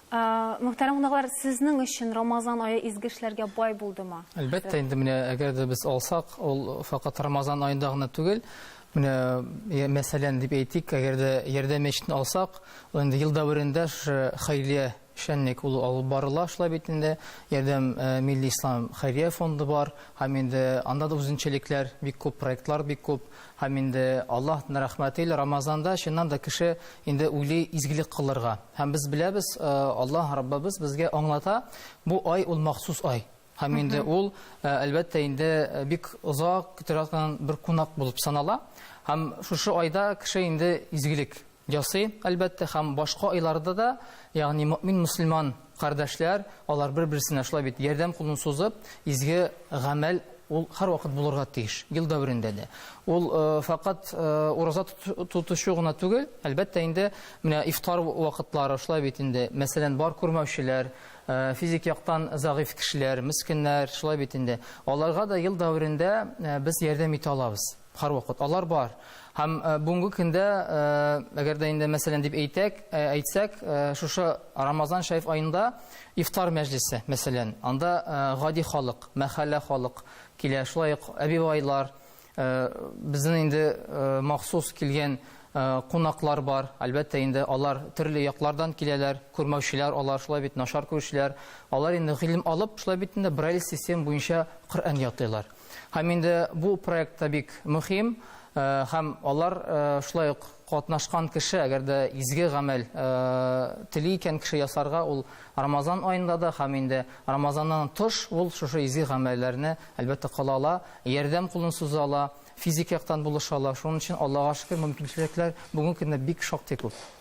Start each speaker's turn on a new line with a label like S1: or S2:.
S1: Ә, Мөхтәрәм кунаклар, сезнең өчен Рамазан ае изге эшләргә бай булдымы? Әлбәттә, инде менә
S2: әгәр дә без алсак, ул факат Рамазан аенда гына түгел. Менә я- мәсәлән дип әйтик, әгәр дә Ярдәм мәчетен алсак, ул инде ел дәверендә шушы хәйрия эшчәнлек ул алып барыла, шулай бит инде. Ярдәм э, милли ислам хәйрия фонды бар һәм инде анда да үзенчәлекләр бик күп, проектлар бик күп. Һәм инде Аллаһтн рәхмәте иле Рамазанда чыннан да кеше инде уйлый изгелек кылырга. Һәм без беләбез, Аллаһ Раббыбыз безгә аңлата, бу ай ул махсус ай. Һәм инде ул, әлбәттә инде, бик озак көтелә торган бер кунак булып санала. Һәм шушы айда кеше инде изгелек Ясый, әлбәттә, һәм башка айларда да, ягъни мөэмин мөселман кардәшләр, алар бер-берсенә шулай бит, ярдәм кулын сузып, изге гамәл ул һәрвакыт булырга тиеш, ел дәверендә дә. Ул фәкать ураза тотучы гына түгел, әлбәттә инде, менә ифтар вакытлары шулай бит инде, мәсәлән, бар күрмәүчеләр, физик яктан зәгыйфь кешеләр, мескеннәр, шулай бит инде, аларга да ел дәверендә без ярдәм итә алабыз, һәрвакыт алар бар. Һәм бүгенге көндә, әгәр дә инде мәсәлән дип әйтәк, әйтсәк, шушы Рамазан шәриф аенда ифтар мәҗлесе, мәсәлән, анда гади халык, мәхәллә халык килә, шулай ук әбивайлар, безнең инде махсус килгән кунаклар бар. Әлбәттә, инде алар төрле яклардан киләләр, күрмәүчеләр алар, шулай бит, начар күрүчеләр. Алар инде гыйлем алып, шулай бит инде Брайль системы буенча Коръән ятыйлар. Һәм инде бу проект та бик мөхим, һәм алар шулай ук катнашкан кеше, әгәр дә изге гамәл тели икән кеше ясарга, ул Рамазан аенда да һәм инде Рамазаннан тыш ул шушы изге гамәлләрне, әлбәттә, кыла ала, ярдәм кулын суза ала, физик яктан булыша ала. Шуның өчен, Аллага шөкер, мөмкинчелекләр бүгенге көндә бик шактый күп.